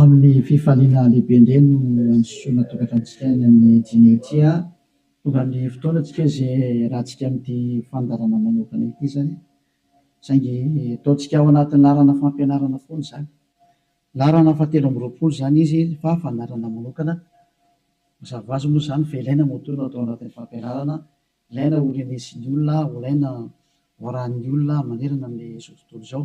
Amin'ny fifaliana lehibe indray no androsoana tokantranontsika any amin'ny dimy ity a! Tonga ny fotoana antsika izay hiarahantsika amin'ity fandaharana manokana ity izany, saingy ataontsika ao anatin'ny laharana fampianarana foana izany. Laharana fahatelo amby roapolo izany izy fa fandaharana manokana. Mazava ho azy moa izany fa ilaina moa toa no atao anatin'ny fampianarana, ilaina ho renesin'ny olona, ho ilaina ho arahin'ny olona manerana amin'izao tontolo izao.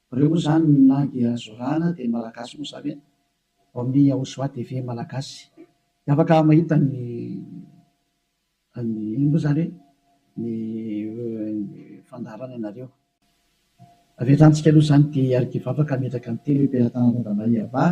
Reo moa zany na dia zorana dia ny malagasy moa zany hoe vao miha ho soa dia ve malagasy dia afaka mahita ny ny ino moa zany hoe ny fandaharana ianareo. Avy hatrany tsika aloha zany tia hiarikivavaka hametraka ny teny hoe Mpiaratana Randamariavahy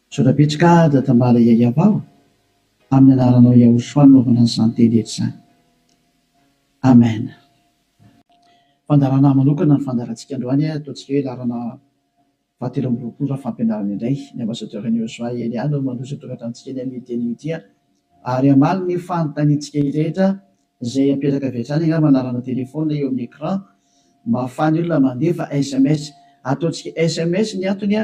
Misaotra betsy ka da tambara yayab aho amin'ny anaranao Yahoshua no naovana an'izany teny rehetra izany. Amen. Fandaharana manokana ny fandaharantsika androany a, ataontsika hoe laharana faha telo amby roapolo raha fampianarana indray. Ny Ambassadeur an'i Yahoshua i Elia no mandroso tondratra antsika eny amin'io teny io ity a. Ary hamaly ny fanontaniantsika rehetra izay apetraka avy hatrany angamba anarana téléphone eo amin'ny écran mba ahafahan'ny olona mandefa sms. Ataontsika sms ny antony a.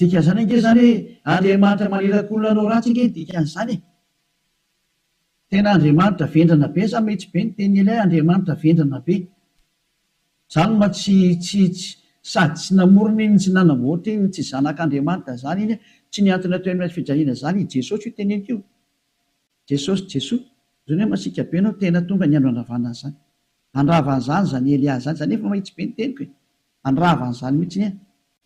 Dikan'izany ange izany hoe Andriamanitra maniraka olona hanao ratsy ange ny dikan'izany e! Tena Andriamanitra vendrana be sa mety be ny tenin'i Elia Andriamanitra vendrana be? Zany ma tsy tsy tsy sady tsy namorona iny tsy nanamboatra iny tsy zanak'Andriamanitra zany iny tsy ny antony atao eny fijaliana zany i Jesosy io teneniko io Jesosy Jesoa zany hoe masiaka be anao tena tonga ny andro handravana an'izany handrava an'izany zany Elia zany za nefa mahitsy be ny teniko e handrava an'izany mitsiny e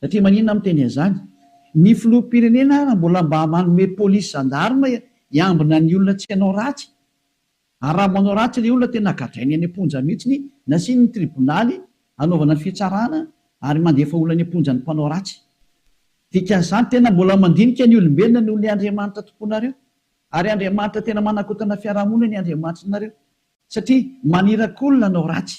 Satria maninona aho miteny an'izany? Ny filoham-pirenena ary mbola mba manome polisy zandarma hiambina ny olona tsy hanao ratsy. Ary raha manao ratsy ilay olona tena gadrainy any am-ponja mihitsy, nasiany ny tribonaly hanaovana ny fitsarana ary mandefa olona any am-ponja ny mpanao ratsy. Dikan'izany tena mbola mandinika ny olombelona noho ny Andriamanitra tomponareo. Ary Andriamanitra tena manakotana fiarahamonina ny Andriamanitrinareo. Satria maniraky olona hanao ratsy.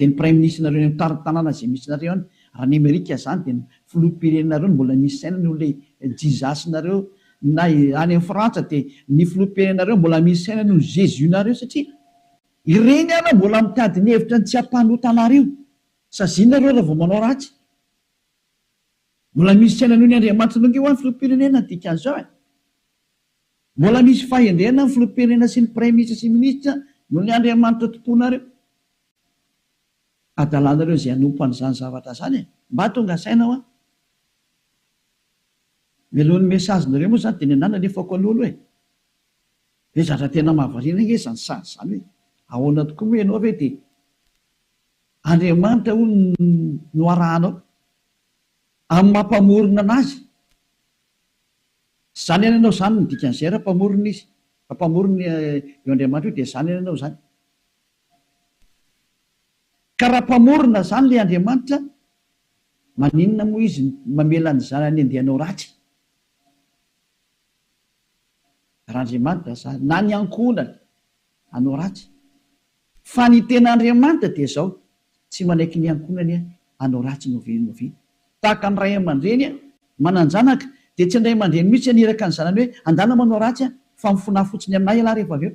Dia ny praiminisitrinareo eny amin'ny tanàna izay misy nareo any raha any amerika zany dia ny filoham-pirenenareo no mbola misy saina noho ilay jizasinareo na any amin'ny frantsa dia ny filoham-pirenenareo mbola misy saina noho ny jesus nareo satria ireny ary mbola mitady ny hevitra ny tsy hampanota anareo saziana reo raha vao manao ratsy mbola misy saina noho ny andriamanitra nareo ho'a ny filoham-pirenena ny dikan'izao e mbola misy fahendrena ny filoham-pirenena sy ny praiminisitra sy ny minisitra noho ny andriamanitra tomponareo Adalanareo izay hanompo an'izany zavatra izany e! Mba tonga saina hoa. Melohin'ny message nareo moa izany dia ny anah nalefako aloha aloha e! Dia zatra tena mahavariana ange izany sazy izany hoe ahoana tokoa moa ianao ve dia Andriamanitra hono no arahanao amin'ny maha mpamorona an'azy. Zany ihany ianao zany no dikan'izay raha mpamorona izy, raha mpamorona io Andriamanitra io dia zany ihany ianao zany. Ka raha mpamorona zany le Andriamanitra maninona moa izy mamela ny zanany andeha hanao ratsy? Raha Andriamanitra zany na ny ankohonany hanao ratsy? Fa ny tena Andriamanitra dia zao, tsy manaiky ny ankohonany hanao ratsy no ve no ve? Tahaka ny ray aman-dreny manan-janaka dia tsy ny ray aman-dreny mihitsy haniraka ny zanany hoe andana manao ratsy fa mifona fotsiny aminay ialahy rehefa avy eo.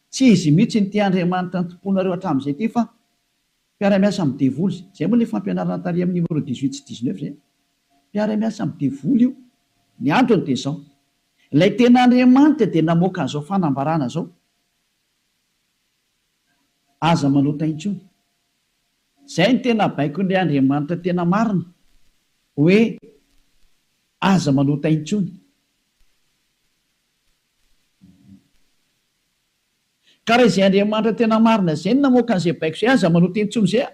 Tsy izy mihitsy no tia Andriamanitra nitompoanareo hatramin'izay ity fa mpiara-miasa amin'ny devoly izay. Izay moa ilay fampianarana tary amin'ny numéro dix huit sy dix neuf izay. Mpiara-miasa amin'ny devoly io. Ny antony dia izao. Ilay tena Andriamanitra dia namoaka an'izao fanambarana izao, Aza manota intsony. Izay no tena baikon'ilay Andriamanitra tena marina hoe aza manota intsony. Ka raha izay Andriamanitra tena marina izay no namoaka an'izay baiko izay, aza manota intsony izay a!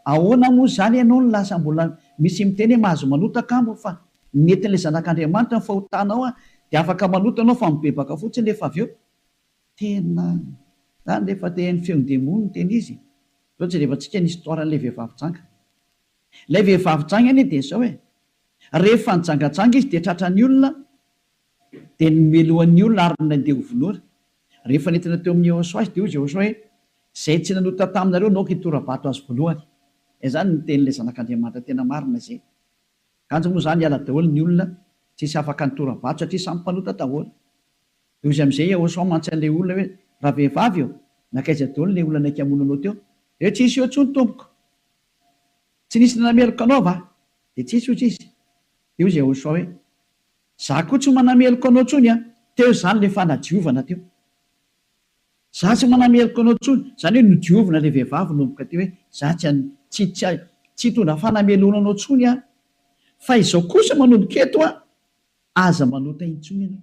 Ahoana moa izany ianao no lasa mbola misy miteny hoe mahazo manota kamo fa nentin'ilay Zanak'Andriamanitra ny fahotanao a! Dia afaka manota ianao fa mibebaka fotsiny rehefa avy eo. Tena izany rehefa te haino feon'ny demony no tena izy. Izao jereva tsika ny histoire an'ilay vehivavy janga. Ilay vehivavy janga anie dia izao e! Rehefa nijangajanga izy dia tratran'ny olona Dia nomelohany ny olona ary nandeha ho vonoina. Rehefa nentina teo amin'i Yehosua izy, dia hoy Yehosua hoe, Izay tsy nanota taminareo no aoka hitora-bato azy voalohany. Izany no tenin'ilay Zanak'Andriamanitra tena marina izay. Kanjo moa izany hiala daholo ny olona tsisy afaka nitora-bato satria samy mpanota daholo. Dia hoy izy amin'izay Yehosua mantsy an'ilay olona hoe, Ravehivavy ô, nankaiza daholo ilay olona naika hamono anao teo? Dia hoe, Tsy nisy eo intsony tompoko. Tsy nisy nanameloka anao va? Dia tsy nisy, hoy izy. Dia hoy Yehosua hoe, Za koa tsy manameloka anao tsony an! Teo izany le fanadiovana teo. Za tsy manameloka anao tsony, zany hoe nodiovina le vehivavy nomboka teo hoe za tsy an, tsy, tsy, tsy hitondra fanameloana anao tsony aho. Fa izao kosa manomboka eto an, aza manota intsony ianao.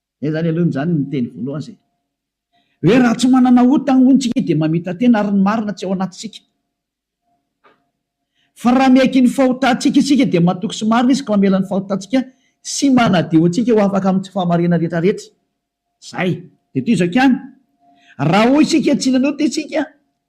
Zay zany aloha zany ny teny voalohany zay hoe raha tsy manana ota hono tsika dia mamita-tena ary ny marina tsy ao anatintsika. Fa raha miaiky ny fahotantsika isika dia matoky sy marina izy ka mamela ny fahotantsika sy manadio antsika ho afaka amin'ny tsy fahamariana rehetrarehetra. Zay. Dia toy izao ihany, raha hoy isika tsy nanota isika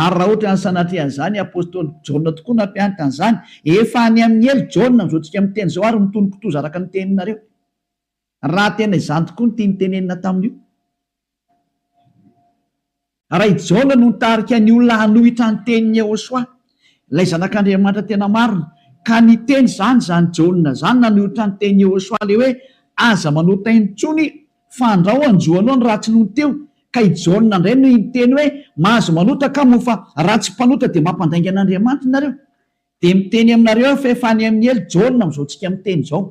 Ary raha ohatra ny sanatria izany apostoly Jaona tokoa nampianatra an'izany, efa any amin'ny helo Jaona amin'izao tsika miteny izao ary mitony kitoza araka ny teninareo. Raha tena izany tokoa ny tiany tenenina tamin'io. Raha i Jaona no nitarika ny olona hanohitra ny tenin'i Yehosua, ilay zanak'Andriamanitra tena marina, ka niteny izany izany Jaona izany nanohitra ny tenin'i Yehosua ilay hoe aza manota intsony Fandrao anjo aloha ny ratsy nony teo ka i Jaona ndray no hiteny hoe mahazo manota ka moa fa raha tsy mpanota dia mampandainga an'Andriamanitra nareo dia miteny aminareo aho fa efa any amin'ny helo Jaona amin'izao tsika miteny izao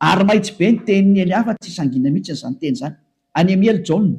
ary mahitsy be ny tenin'ny hely hafa tsy sangina mihitsy izany teny izany any amin'ny helo Jaona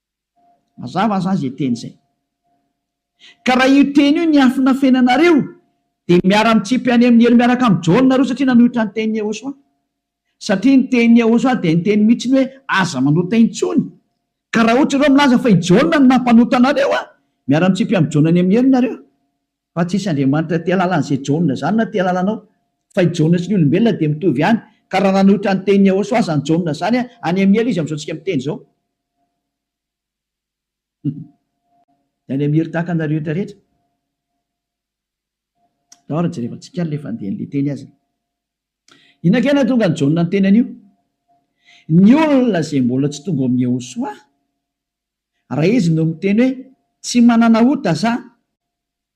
Mazava aza izay teny izay. Ka raha io teny io niafina fenanareo dia miara mitsipy any amin'ny helo miaraka amin'i Jaona nareo satria nanohitra ny tenin'i Yehosua. Satria ny tenin'i Yehosua dia niteny mihitsy ny hoe aza manota intsony. Ka raha ohatra ianao milaza fa i Jaona no nampanota anareo an! miara mitsipy amin'i Jaona any amin'ny helo nareo. Fa tsy hisy Andriamanitra tia halala an'izay Jaona izany na tia halala anao. Fa i Jaona sy ny olombelona dia mitovy ihany. Ka raha nanohitra ny tenin'i Yehosua aza ny Jaona izany an! any amin'ny helo izy amin'izao tsika miteny izao. Any Amir tahaka anareo eto rehetra. Tao ary jerevantsika ary le fandehan'le teny azy. Inona kay nahatonga an'i Jaona niteny an'io? Ny olona izay mbola tsy tonga ao amin'i Yehosoa, raha izy no miteny hoe tsy manana ota za,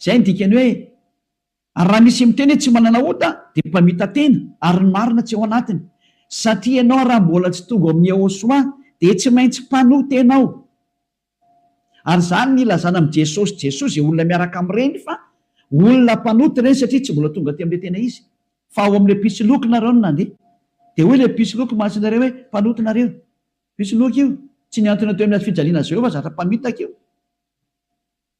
Izay no dikan'ny hoe ary raha misy miteny hoe tsy manana ota dia mpamita-tena ary ny marina tsy ao anatiny satria ianao raha mbola tsy tonga ao amin'ny Yehosua dia tsy maintsy mpanoa-tena ao ary izany no ilazana amin'i Jesosy Jesoa izay olona miaraka amin'ireny fa olona mpanota ireny satria tsy mbola tonga teo amin'ilay tena izy fa ao amin'ilay mpisoloky nareo no nandeha dia hoy ilay mpisoloky mahasinareo hoe mpanota nareo mpisoloky io tsy niantona teo amin'ny hazofijaliana Jehovah zatra mpamitaka io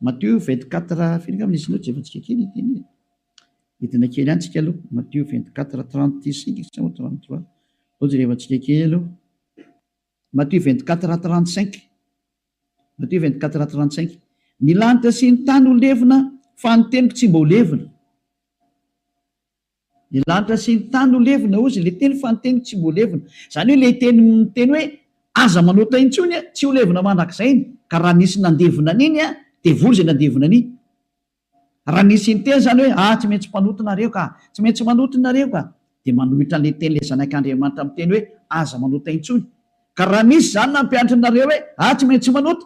Matio vingt quatre firy angamba nisy notes efa tsika kely ity anie e. Hidina kely any tsika aloha. Matio vingt quatre trente cinq sa moa trente trois. Zao jerevantsika kely aloha. Matio vingt quatre trente cinq. Matio vingt quatre trente cinq. Ny lanitra sy ny tany ho levona fa ny teniko tsy mba ho levona. Ny lanitra sy ny tany no levona, hozy ilay teny, fa ny teniko tsy mbo levona. Izany hoe ilay teny miteny hoe, Aza manota intsony an, tsy ho levona mandrakizay iny, ka raha nisy nandevona an'iny an, dia vory izay nandevona an'iny. Raha nisy niteny izany hoe, Ah, tsy maintsy mpanota nareo ka! Tsy maintsy manota nareo ka! dia manohitra an'ilay teny ilay Zanak'Andriamanitra miteny hoe, Aza manota intsony. Ka raha nisy izany nampianatra anareo hoe, Ah, tsy maintsy manota!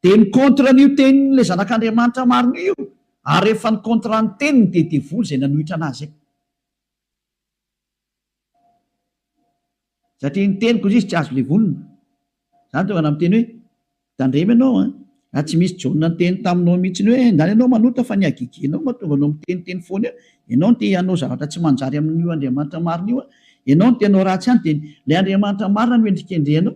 Dia ny contre an'io tenin'ilay zanak'Andriamanitra marina io, ary rehefa ny contre ny teniny dia devoly izay nanohitra anazy izay. Satria ny teniko hozy izy tsy azo levonina. Izany tonga namiteny hoe, tandremo ianao an, raha tsy misy Jaona niteny taminao mihitsiny hoe, ndany ianao manota fa ny hagigianao mahatonga anao miteniteny foana eo, ianao no te hanao zavatra tsy manjary amin'io Andriamanitra marina io an, ianao no te hanao ratsy ihany dia ilay Andriamanitra marina no hendrikendrehanao.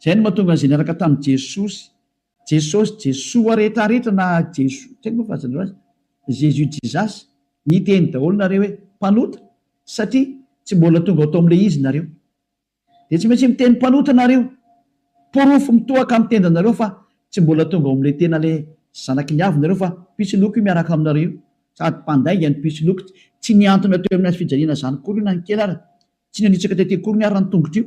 Izay no mahatonga an'izay niaraka tamin'i Jesosy, Jesosy, Jesoa rehetra rehetra na Jeso, tsy haiko moa fa azonareo azy, Jésus, Jesus, niteny daholo nareo hoe mpanota satria tsy mbola tonga ao tamin'ilay izy nareo. Dia tsy maintsy miteny mpanota nareo. Porofo mitohaka amin'ny tendanareo fa tsy mbola tonga ao amin'ilay tena ilay zanaky ny avy nareo fa mpisoloky io miaraka aminareo io. Sady mpandainga ny mpisoloky. Tsy nihantona teo amin'ny hazo fijaliana izany akory io na ny kely ary. Tsy nanitsaka tety akory ny ary ny tongotra io.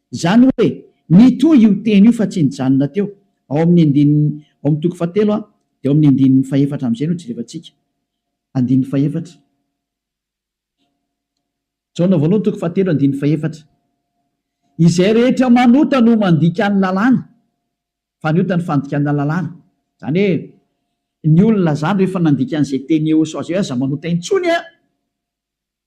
Izany hoe, mitohy io teny io fa tsy nijanona teo, ao amin'ny andininy, ao amin'ny toko fahatelo an, dia ao amin'ny andininy fahefatra amin'izay no jerevantsika. Andininy fahefatra. Jaona voalohany toko fahatelo andininy fahefatra. Izay rehetra manota no mandika ny lalàna, fa ny ota ny fandikana lalàna. Izany hoe, ny olona izany rehefa nandika an'izay teny eosao izay hoe aza manota intsony an,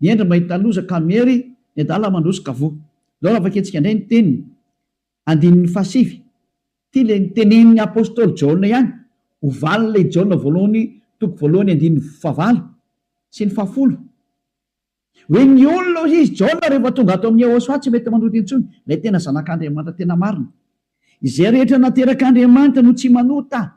Mihendry mahita loza ka miery ny adala mandroso ka voa. Izao raha vakiantsika indray ny teniny, andininy fahasivy. Ity ilay notenenin'ny apostoly Jaona ihany, ho valin'ilay Jaona voalohany toko voalohany andininy fahavalo sy ny fahafolo. Hoe ny olona hoy izy, Jaona rehefa tonga ato amin'i Yehôsoa tsy mety manohitra intsony, ilay tena Zanak'Andriamanitra tena marina. Izay rehetra naterak'Andriamanitra no tsy manota.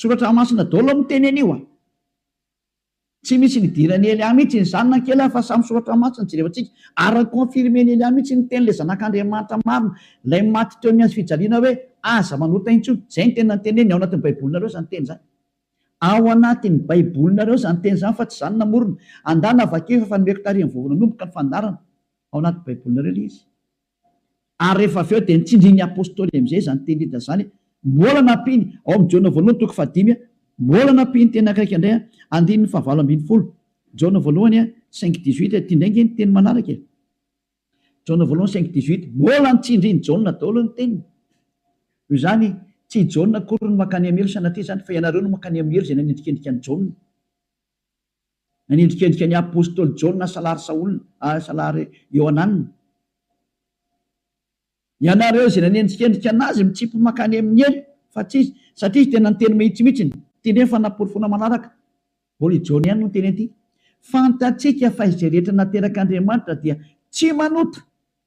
Soratra masina dolo miteny an'io a! Tsy misy nidiran'i Elia mihitsy iny zanany kely a! Fa samy soratra masina jerevantsika ary confirmen'i Elia mihitsy iny teny ilay zanak'Andriamanitra marina ilay maty teo amin'ny hazo fijaliana hoe aza manota intsony! Izay no teny nanteneniny ao anatin'ny baibolinareo izany teny izany ao anatin'ny baibolinareo izany teny izany fa tsy izany namorona! Andana vakio fa efa nomeko tarihin'ny vovon'anomboka ny fandaharana ao anaty baibolinareo ilay izy. Ary rehefa avy eo dia nitsindrin'ny apostoly amin'izay izany teny Lida izany, Mbola nampiany, ao amin'ny Jaona voalohany toko fahadimy, mbola nampiany teny akaiky indray, andininy fahavalo ambin'ny folo, Jaona voalohany cinq dix huit, ity indray ange ny teny manaraka e, Jaona voalohany cinq dix huit, mbola nitsindrin'i Jaona daholo ny teniny, noho izany tsy i Jaona akory no mankany amin'ny helo sanatria izany fa ianareo no mankany amin'ny helo izay nanendrikendrika an'i Jaona. Nanendrikendrika ny apostoly Jaona salary Saola ary salary Iohanana. Ianareo izay nanendrikendrika an'azy mitsipy mankany amin'ny helo fa tsy izy, satria izy tena niteny mahitsymihitsy ny. Ity indray ny fanaporofoana manaraka, mbola i Jaona ihany no niteny an'ity, Fantatsika fa izay rehetra naterak'Andriamanitra dia tsy manota.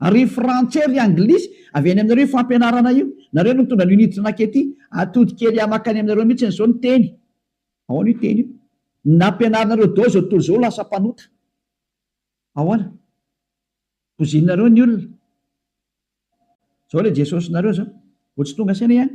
Ary frantsay ry anglisy avy any aminareo io fampianarana io, nareo no mitondra an'io nijinaky ety, atody kely ahy makany aminareo mihitsiny zao ny teny, ahoana io teny io, nampianarinareo dao zao tontolo zao lasa mpanota, ahoana, bozinareo ny olona, zao le Jesosy nareo zao, vao tsy tonga saina ihany.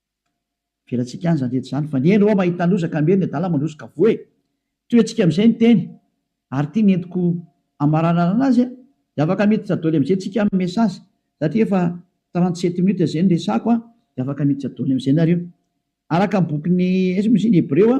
Avelantsika any izany rehetra izany fa ny eny hoa mahita loza ka miery ny adala mandroso ka voa e! Tohetsika amin'izay ny teny ary ity ny entiko hamaranarana azy a! Dia afaka miditra doly amin'izay tsika amin'ny message satria efa trente sept minutes izay ny resako a! Dia afaka miditra doly amin'izay nareo. Araka ny bokin'i Hebreo a!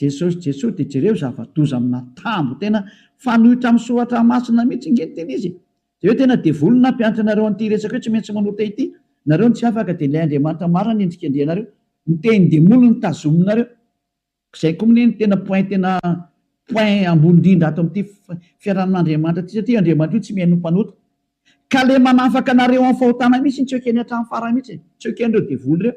Jesosy Jesosy de jereo zava-doza amina tambo tena fanoitra am soratra masina mitsy nge ny tena izy e! de hoe tena devoly ny nampianatra anareo anty resaka io tsy maintsy manota ity nareo no tsy afaka de ilay Andriamanitra marina ny endrika andrianareo ny teny demoly no tazominareo zay ko mne ny tena point tena point ambony indrindra ato amty fiarahan Andriamanitra ty satria io Andriamanitra io tsy mihaino ny mpanota ka le manafaka anareo am fahotana mitsy tsy ekeny hatram farany mitsy e! tsy ekenreo devoly reo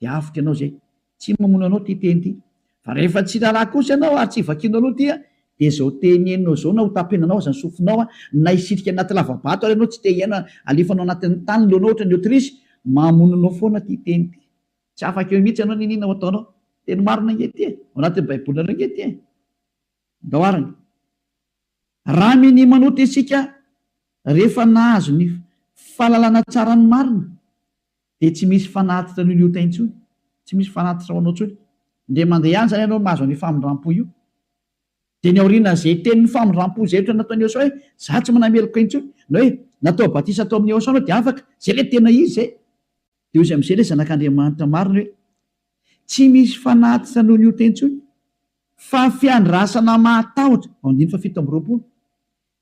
dia avotra ianao izay. Tsy mamono anao ity teny ity. Fa rehefa tsy raharaha kosa ianao ary tsy vakianao aloha ity dia izao teny henonao izao na hotapenanao aza ny sofinao na hisitrika anaty lavabato ary ianao tsy te hihaino halefanao anatin'ny tany ny lohanao ohatran'ny autruche, mamono anao foana ity teny ity. Tsy afaka eo mihitsy ianao n'inona ho ataonao. Teny marina ange ity e! Ao anatin'ny baibolinareo ange ity e! Andao arany. Raha minia manota isika rehefa nahazo ny fahalalana tsara ny marina Dia tsy misy fanatitra an'io liotay intsony, tsy misy fanatitra ho anao intsony. Indray mandeha ihany izany ianao no mahazo an'io famindram-po io. Dia ny aorian'izay tenin'ny famindram-po izay ohatra nataon'i Eosaoa hoe, Izaho tsy manana meloka intsony, na hoe, Natao batisa tao amin'i Eosaoa ianao dia afaka. Izay ilay tena izy izay. Dia hoy izy amin'izay ilay Zanak'Andriamanitra marina hoe, Tsy misy fanatitra noho ny ota intsony, fa fiandrasana mahatahotra. Andininy fahafito amby roapolo.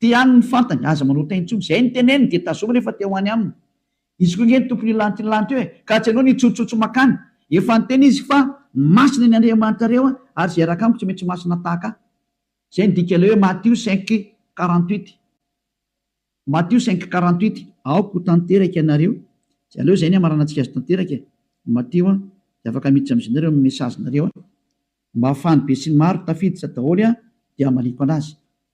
Te haniny ny fantany, aza manao tain tsony, zay ny teneniny dia tazominy efa te ho any aminy izy koa nge ny tompony hilanty ny lanty eo e, ka tsy anao ny hitsotsotso makany, efa niteny izy fa masina ny Andriamanitrareo a, ary zay raka amiko tsy maintsy masina tahaka ahy, zay ny dika ilay hoe Matio cinq quarante huit, Matio cinq quarante huit. Aoka ho tanteraka ianareo, tsy aleo zay ny hamaranantsika azy tanteraka e, Matio a, de afaka miditra amizay nareo amin'ny message nareo a, mba afahan'ny besinimaro tafiditra daholo a, de hamaliako anazy.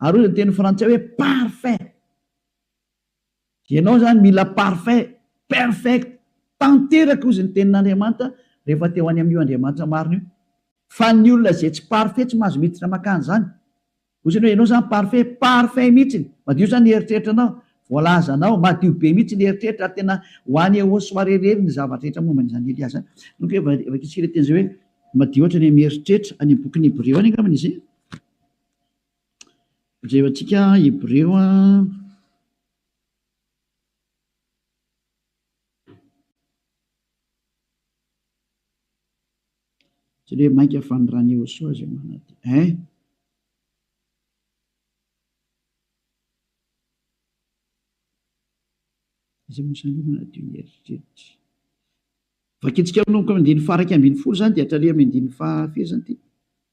Ary hoy ny teny frantsay hoe parfait. Ianao izany mila parfait, perfect, tanteraka hozy ny tenin'Andriamanitra rehefa te ho any amin'io Andriamanitra marina io. Fa ny olona izay tsy parfait tsy mahazo miditra makany izany. Hoy izany hoe ianao izany parfait, parfait mihitsy, madio izany ny eritreritranao, voalazanao, madio be mihitsy ny eritreritra ary tena ho any au soirée irery ny zavatra rehetra momba an'izany Elia izany. Nony koa efa vakintsika ilay teny izay hoe madio hatrany amin'ny eritreritra, any amin'ny bokin'ny Hebreo any angambany izay. Jereo antsika Hebreo Jereo hoe mainka fa ny rany Iehosoa izay manatena eh. Izay mosany manadio ny eritreritra. Vakintsika amin'oko amin'ny andininy faha iraika ambin'ny folo izany dia hatraria amin'ny andininy faha firy izany ity?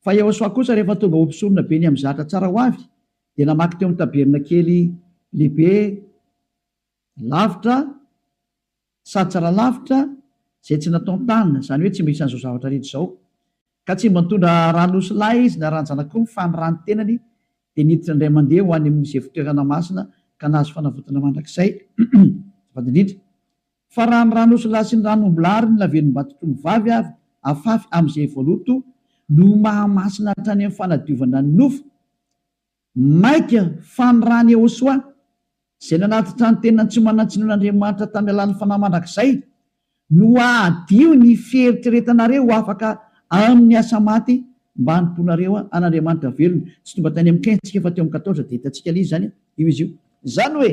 Fa Iehosòa kosa, rehefa tonga ho mpisorona be niha-mizatra tsara ho avy, dia namaky teo amin'ny tabernakely lehibe lavitra sady tsara lavitra izay tsy nataon-tanana, izany hoe tsy mba isan'izao zavatra rehetra izao. Ka tsy mba nitondra ran'osilahy izy na ran-janak'omby, fa ny ràn'ny tenany dia niditra indray mandeha ho any amin'izay fitoerana masina ka nahazo fanavotana mandrakizay. Azafady indrindra. Fa raha ny ran'osilahy sy ny ran'ombilahy ary ny lavenimbatotry ny vavy ary afafy amin'izay voaloto no mahamasina hatrany amin'ny fanadiovana ny nofo, maika fa ny ran'i Ehosoa, izay nanatitra ny tenany tsy manan-tsinoana Andriamanitra tamin'ny alalan'ny fanahy mandrakizay, no hahadio ny fieritreretanareo ho afaka amin'ny asa maty mba hanompoanareo an'Andriamanitra velona. Tsy tonga tany amin'ny kin-tsika fa teo amin'ny quatorze dia hitantsika ilay izy izany io izy io. Izany hoe,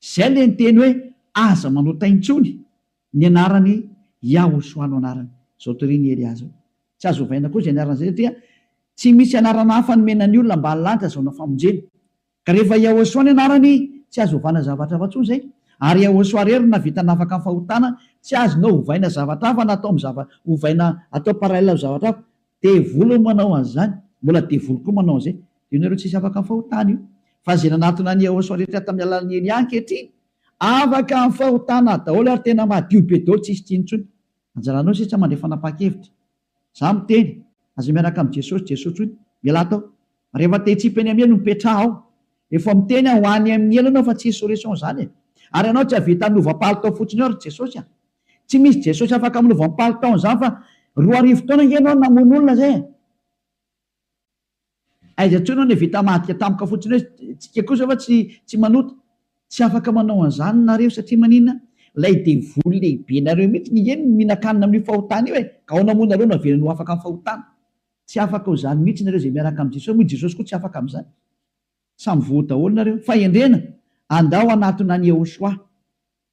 Izay ilay niteny hoe aza manota intsony ny anarany Yahoshua no anarany. Izao torin' i Elia izao. Tsy azo ovaina koa izay anarana izay satria tsy misy anarana hafa nomena ny olona mba hahalanja azahoana famonjena. Ka rehefa Yahoshua ny anarany tsy azo ovana zavatra hafa intsony izay. Ary Yahoshua irery no nahavita nafaka ny fahotana, tsy azonao ovaina zavatra hafa na atao amin'ny zava ovaina atao parallel amin'ny zavatra hafa. Devoly no manao an'izany, mbola devoly koa manao an'izay. Dia ianareo tsisy afaka fahotana io. Fa izay nanatona an'i Yehosua rehetra tamin'ny alalan'i Elia ankehitriny, afaka amin'ny fahotana daholo ary tena madio be daholo, tsisy tsy intsony. Anjaranao sisa mandray fanapahan-kevitra. Izaho miteny, aza miaraka amin'i Jesosy, Jesosy intsony. Mialà tao. Rehefa te hitsipy any amin'ny helo, mipetraha ao. Efa miteny aho, ho any amin'ny helo ianao fa tsy insurrection izany e. Ary ianao tsy hahavita hanova palitao fotsiny ao ry Jesosy a. Tsy misy Jesosy afaka amin'ny lovam-palitao an'izany fa roa arivo taona ange ianao no namono olona izay e! Aiza intsony aho nevita mahadika tampoka fotsiny hoe tsika kosa va tsy tsy manota? Tsy afaka manao an'izany nareo satria maninona? Ilay devoly lehibenareo mihitsy no nge mihinan-kanina amin'io fahotana io e! Ka ao namono nareo no avelany ho afaka amin'ny fahotana? Tsy afaka ho izany mihitsy nareo izay miaraka amin'i Jesosy, moa i Jesosy koa tsy afaka amin'izany? Samy voa daholo nareo. Fahendrena, andao hanatona an'i Yehoshuah.